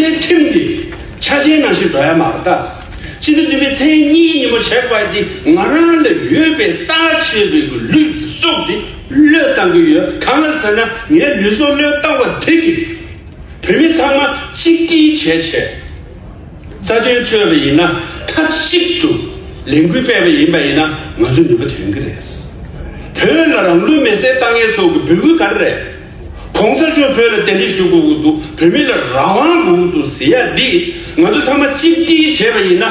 སྤྱིར་ཁྲིམས་འདི་ཆ་ཅན་ནང་བཞིན་འགྲོ་ཡ་མ་རེད་ད། སྤྱི་འདུས་བདུན་པའི་མཚན་ཉིད་ཉིན་མོ་བྱས་པ་འདི་ང་རང་ལ་ཡོད་པའི་རྩ་ཆེ་རིགས་ཀྱི་ལུས་ཀྱི་སྲོག་འདི་བློས་བཏང་གི་ཡོད་གང་ལ་ཟེར་ན་ངའི་ལུས་སྲོག་བློས་བཏང་བ་དེ་གིས་བོད་མི་ཚང་མ་གཅིག་སྒྲིལ་བྱས་ཆེད་རྩ་དོན་རྩོད་པ་ཡིན་ན་མཐའ་གཅིག་ཏུ་ལས་འགུལ་སྤེལ་བ་ཡིན་པ་ཡིན་ན་ང་ཚོ་ནུས་པ་ཐོན་གི་རེད། བོད་ལ་རང་ལུས་མེ་བསྲེགས་བཏང་ཡས་ཚོགས་ཀྱི་འབོད་སྐུལ་ག་རེ་རེད། གོང་ས་མཆོག་བོད་ལ་དན་ཏིག་ཞུ་དགོས་ཀྱི་འདུག་བོད་མི་ལ་རང་དབང་དགོས་ཀྱི་འདུག་ཟེར་ཡ་འདི་ང་ཚོ་ཚང་མ་གཅིག་སྒྲིལ་བྱས་པ་ཡིན་ན་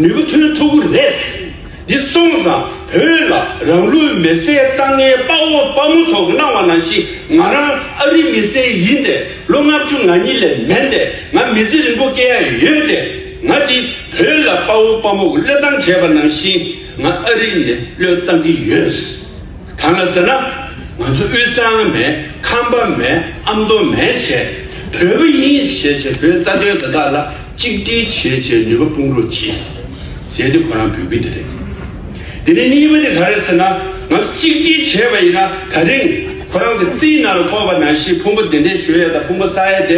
ནུས་པ་ཐོན་ཐུབ་ཀྱི་རེད། འདི་སོང་ཙང་བོད་ལ་རང་ལུས་མེ་བསྲེག་བཏང་ངའི་དཔའ་བོ་དཔའ་མོ་ཚོ་གནང་བ་ནང་བཞིན་ང་རང་ཨ་རི་མི་སེར་ཡིན་ཏེ་ལོ་ལྔ་བཅུ་ང་གཉིས་ལས་མེད་ཏེ་ང་མི་ཚེ་རིང་པོ་སྐྱེལ་ཡ་ཡོད་ཏེ་ང་འདི་བོད་ལ་དཔའ་བོ་དཔའ་མོ་གློད་བཏང་བྱས་པ་ནང་བཞིན་ང་ཨ་རི་ནས་གློད་བཏང་གྱི་ཡོད། གང་ལ་ཟེར་ན། ང་ཚོ་དབུས་གཙང་མས་ཁམས་པ་མས་ཨ་མདོ་མས་བྱས་བོད་པ་ཡིན་ཞེས་བྱས་བོད་རྩ་དོན་དེ་དག་ལ་གཅིག་སྒྲིལ་བྱེད་ཅེས་ནུས་པ་སྤུངས་རོགས་གྱིས་ཟེར་ཏེ་ཁོ་རང་འབོད་ཀྱི་དེ་རེད། དེ་ནས་གཉིས་པ་དེ་ག་རེད་ཟེར་ན་ང་ཚོ་གཅིག་སྒྲིལ་བྱས་པ་ཡིན་ན་ད་རིང་ཁོ་རང་གི་རྩིས་ནང་ལ་ཐོགས་པ་ནང་བཞིན་ཕུང་པོ་བདེ་འདྲེ་ཞོལ་ཡས་དང་ཕུང་པོ་ས་ཡས་དེ་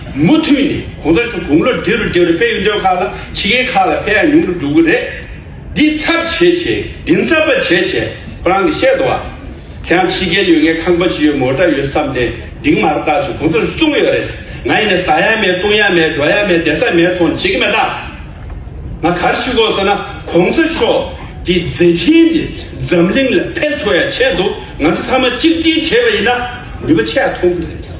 མུ་མཐུད་ནས་གོང་ས་མཆོག་དགུང་ལོ་བགྲེས་རུ་བགྲེས་རུ་དཔལ་ཡོན་སྡོད་ཁག་ལ་ཕྱི་རྒྱལ་ཁག་ལ་ཕེབས་ཡ་ཉུང་རུ་འགྲོ་གི་རེད། འདི་ཚབ་བྱེད་བྱེད་འདི་མཚབ་པ་བྱེད་བྱེད་པ་རང་གི་བཤད་དོ། ཁྱེད་རང་ཕྱི་རྒྱལ་ཡོད་ངའི་ཁང་པ་ཅི་ཡོད་མོ་འདྲ་ཡོད་བསམ་ཏེ་འདིང་མར་བཏགས་བྱུང་གོང་ས་མཆོག་གསུང་གི་ཡོད་རེད། ང་ཡིན་ནས་ཟ་ཡ་མེད་བཏུང་ཡ་མེད་འགྲོ་ཡ་མེད་བསྡད་ས་མེད་ཐོངས་བྱེད་ཀྱི་མེད་ཐག། ང་གར་ཞུ་དགོས་ཟེར་ན་གོང་ས་མཆོག་གི་མཛད་འཕྲིན་དེ་འཛམ་གླིང་ལ་འཕེལ་ཐུབ་ཡ་ཆེད་དུ་ང་ཚོ་ཚང་མ་གཅིག་སྒྲིལ་བྱས་པ་ཡིན་ན་ནུས་པ་ཆེ་ཡ་ཐོངས་ཀྱི་རེད།